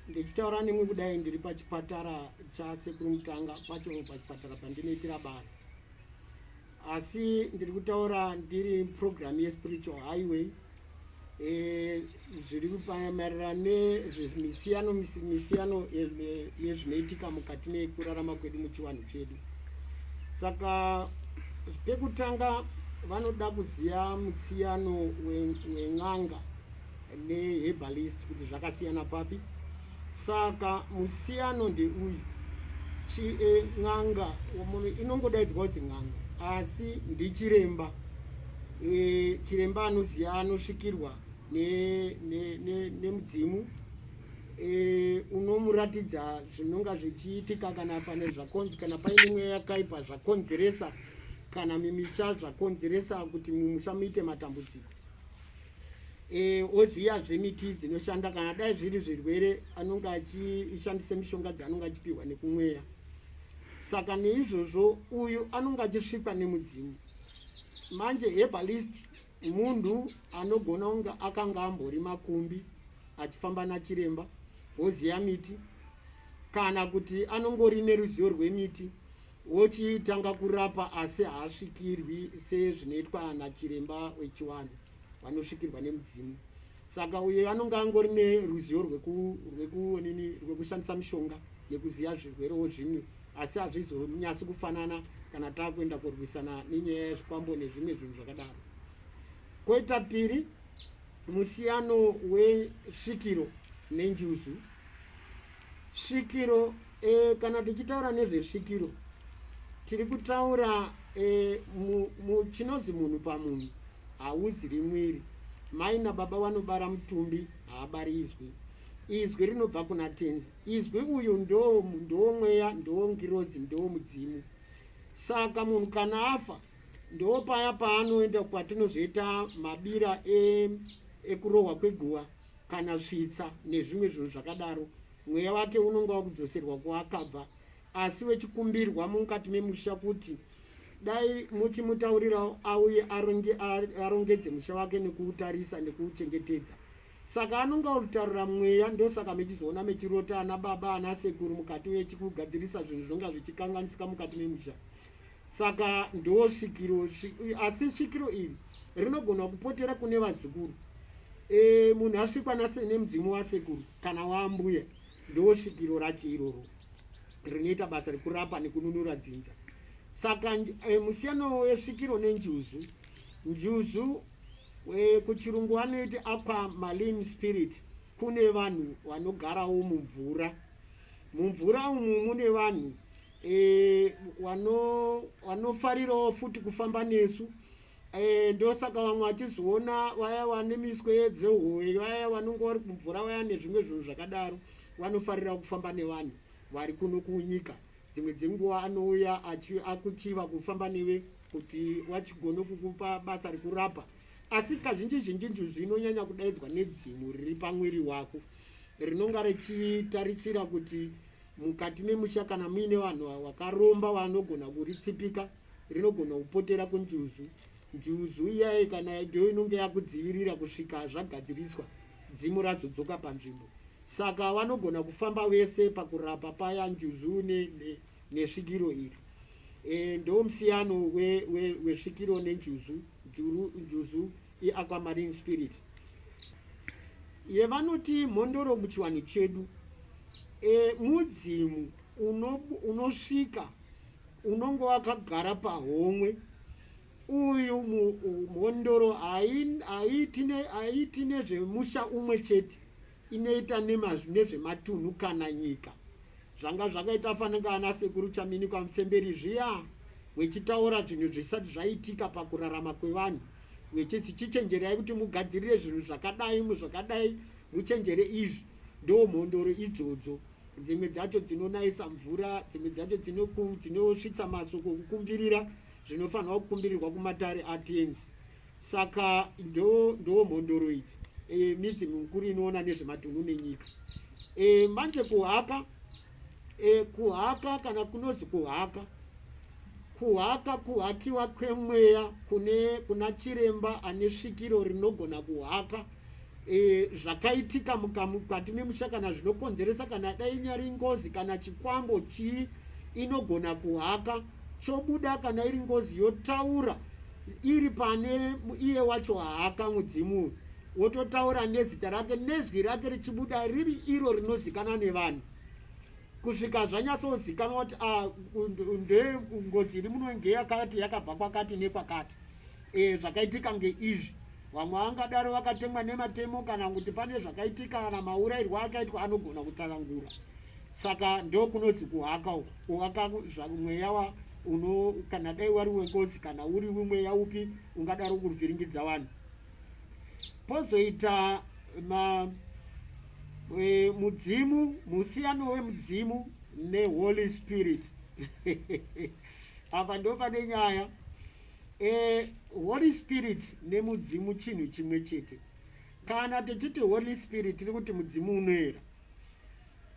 ndichitaura nemwe kudai ndiri pachipatara chasekuru mutanga pacho pachipatara pandinoitira basa asi ndiri kutaura ndiri program yespiritual highway Eh, zviri maererano nezvemisiyano misiyano yezvinoitika mukati mekurarama kwedu muchivanhu chedu saka pekutanga vanoda kuziva musiyano wen'anga nehebalist kuti zvakasiyana papi Saka musiyano ndeuyu, chie n'anga inongodaidzwa kuti n'anga asi ndichiremba. E, chiremba anoziva anosvikirwa nemudzimu ne, ne, ne e, unomuratidza zvinonga zvichiitika kana pane zvakonzi kana paine mweya yakaipa zvakonzeresa kana mimisha zvakonzeresa kuti mumusha muite matambudziko e, oziyazve miti dzinoshanda kana dai zviri zvirwere anonge achishandisa mishonga dzaanonge achipiwa nekumweya saka neizvozvo uyu anonge achisvikwa nemudzimu manje herbalist munhu anogona kunge akanga ambori makumbi achifamba nachiremba woziva miti kana kuti anongori neruzivo rwemiti wochitanga kurapa asi haasvikirwi sezvinoitwa nachiremba wechiwanhu vanosvikirwa nemudzimu saka uyo anonge angori neruzivo rwekunini rwekushandisa mishonga yekuziva zvirwerewo zvimwe asi hazvizonyasi kufanana kana taakuenda kurwisana nenyaya yezvikwambo nezvimwe zvinhu zvakadaro koita piri musiyano wesvikiro nenjuzu svikiro E, kana tichitaura nezvesvikiro tiri kutaura e, mu, mu, chinozi munhu pamunhu hauziri mwiri mai nababa vanobara mutumbi haabari izwi izwi rinobva kuna tenzi izwi uyu ndoo ndoo mweya ndoo ngirozi ndoo mudzimu saka munhu kana afa ndoo paya paanoenda kwatinozoita mabira e, ekurohwa kweguva kana svitsa nezvimwe zvinhu zvakadaro Mweya wake unonga wakudzoserwa kuakabva asi wechikumbirwa mukati memusha kuti dai muchimutaurirawo auye arongedze musha wake nekuutarisa nekuuchengetedza saka anonga orutarira mweya ndosaka mechizoona mechirota ana baba ana sekuru mukati mechikugadzirisa zvinhu zvonga zvichikanganisika mukati memusha Saka ndo svikiro, asi svikiro iri rinogona kupotera kune vazukuru. E, munhu asvikwa nase nemudzimu wasekuru kana waambuya, ndo svikiro racho iroro rinoita basa rekurapa nekununura dzinza. Saka e, musiyano wesvikiro nenjuzu, njuzu e, kuchirungu vanoiti aqua maline spirit, kune vanhu vanogarawo mumvura. Mumvura umu mune vanhu e, wano wanofarirawo futi kufamba nesu e, ndosaka vamwe vachizoona vaya vane miswe dzehoe vaya vanonge vari kumvura vaya nezvimwe zvinhu zvakadaro vanofarira kufamba nevanhu vari kuno kunyika dzimwe dzenguva anouya akuchiva kufamba neve kuti wachigone kukupa basa rekurapa asi kazhinji zhinji njuzu inonyanya kudaidzwa nedzimu riri pamwiri wako rinonga richitarisira kuti mukati memusha kana muine vanhu vakaromba vanogona kuritsipika rinogona kupotera kunjuzu njuzu iyaye kana ndo inonge yakudzivirira kusvika zvagadziriswa dzimu razodzoka panzvimbo saka vanogona kufamba vese pakurapa paya njuzu nesvikiro ne, ne iri e, ndo musiyano wesvikiro we, we nenjuzu njuzu yeAquamarine Spirit yevanoti mhondoro muchiwanhu chedu e, mudzimu unosvika uno unonge wakagara pahomwe uyu mhondoro haiti nezvemusha umwe chete inoita nemazvi nezvematunhu kana nyika zvanga zvakaita fanenge ana sekuru chamini kwamufemberi zviya wechitaura zvinhu zvisati zvaitika pakurarama kwevanhu wechiti chichenjerai kuti mugadzirire zvinhu zvakadai muzvakadai muchenjere izvi ndo mhondoro idzodzo dzimwe dzacho dzinonayisa mvura dzimwe dzacho dzinosvitsa masoko kukumbirira zvinofanirwa kukumbirirwa kumatare atenzi Saka ndo ndo mhondoro idzi e, midzi mikuru inoona nezvematunhu nenyika e, manje kuhaka e, kuhaka kana kunozi kuhaka kuhaka kuhakiwa kwemweya kune kuna chiremba ane svikiro rinogona kuhaka e, zvakaitika mukati memusha kana zvinokonzeresa kana dai inyari ngozi kana chikwambo chii inogona kuhaka chobuda kana iri ngozi yotaura iri pane iye wacho haka mudzimu uyu wototaura nezita rake nezwi rake richibuda riri iro rinozikana nevanhu kusvika zvanyatsozikanwa kuti ah, ndengozi iri muno nge yakati yakabva kwakati nekwakati e, zvakaitika ngeizvi vamwe vangadaro vakatemwa nematemo kana kuti pane zvakaitika kana maurairwa akaitwa anogona kutsakangura saka ndokunonzi kuhaka uku kuhaka mweya wa uno kana dai wari wengozi kana uri wemweya upi ungadaro kuruvhiringidza vanhu pozoita ma e, mudzimu musiyano wemudzimu neholy spirit apa ndo pane nyaya e, holy spirit nemudzimu chinhu chimwe chete kana tichiti holy spirit tiri kuti mudzimu unoera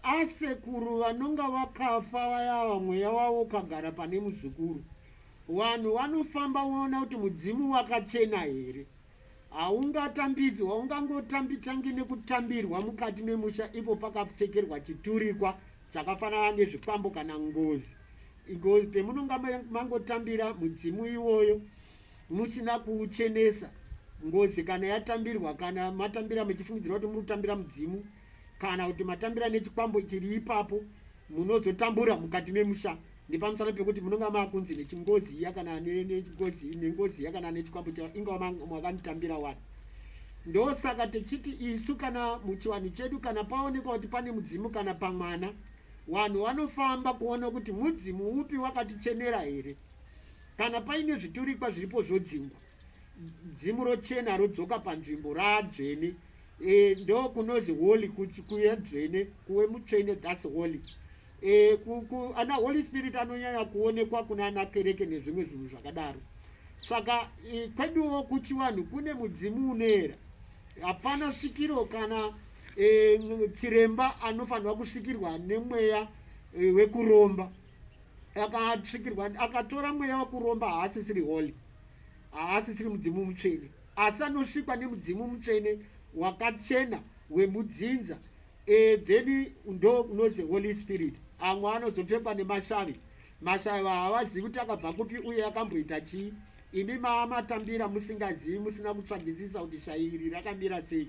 asekuru vanonga vakafa vayava mweya wavo ukagara pane muzukuru vanhu vanofamba voona kuti mudzimu wakachena here haungatambidzwi haungangotambitangi nekutambirwa mukati memusha ipo pakapfekerwa chiturikwa chakafanana nezvikwambo kana ngozi ngozi pemunonga mangotambira mudzimu iwoyo Musina kuuchenesa, ngozi kana yatambirwa, kana matambira muchifungidzira kuti muri kutambira mudzimu, kana kuti matambira nechikwambo chiri ipapo, munozotambura mukati memusha nepamusana pekuti munonga makunzi nechingozi iya kana nengozi nengozi iya kana nechikwambo chavo ingava mwakanitambira wani ndosaka tichiti isu kana muchivanhu chedu kana paonekwa kuti pane mudzimu kana pamwana vanhu vanofamba kuona kuti mudzimu upi wakatichenera here Kana paine zviturikwa zviripo zvodzingwa, dzimu rochena rodzoka panzvimbo raadzvene. E, ndo kunozi holy kuye dzvene kuwe mutsvene thus holy. E, ku, ku, ana holy spirit anonyanya kuonekwa kuna ana kereke nezvimwe zvinhu zvakadaro. Saka e, kweduwo kuchivanhu kune mudzimu unoera, hapana svikiro kana e, chiremba anofanirwa kusvikirwa nemweya e, wekuromba. akatsvikirwa akatora mweya wakuromba haasisiri holy haasisiri mudzimu mutsvene asi anosvikwa nemudzimu mutsvene wakachena wemudzinza e, then ndo unozi holy spirit amwe anozopfekwa nemashavi mashavi havazivi kuti akabva kupi uye akamboita chii imi maamatambira musingazivi musina kutsvagisisa kuti shairi rakamira sei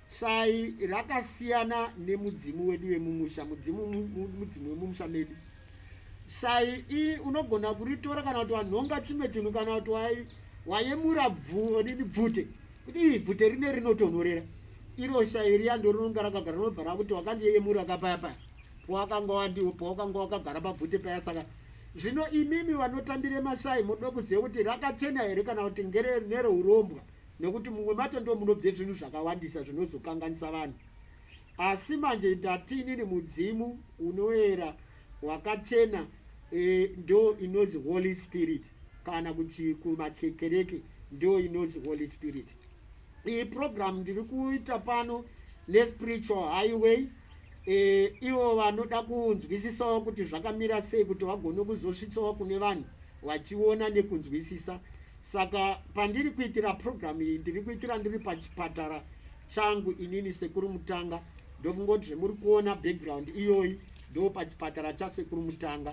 Shayi rakasiyana nemudzimu wedu wemumusha, mudzimu mudzimu wemumusha medu. Shayi iyi unogona kuritora kana kuti wanhonga chimwe chinhu kana kuti wayemura bvudini bvute kuti ii bvute rine rinotonhorera iro shayi riya ndorinonga rakagara rinobva rakuti wakandiyeyemura kapaya paya powakanga wandiwo powakanga wakagara pabvute paya saka zvino imimi vanotambire mashayi moda kuziva kuti rakachena here kana kuti ngere nerourombwa nekuti mumwe macho ndo munobve zvinhu zvakawandisa zvinozokanganisa vanhu asi manje ndatini ni mudzimu unoera wakachena e, ndo inozi holy spirit kana kuti kumachekereke ndo inozi holy spirit iyi program ndiri kuita pano nespiritual highway e, ivo vanoda kunzwisisawo kuti zvakamira sei kuti vagone kuzosvitsawo kune vanhu vachiona nekunzwisisa Saka pandiri kuitira program iyi ndiri kuitira ndiri pachipatara changu inini sekuru mutanga ndokungoti zvemuri kuona background iyoyi ndo pachipatara chasekuru mutanga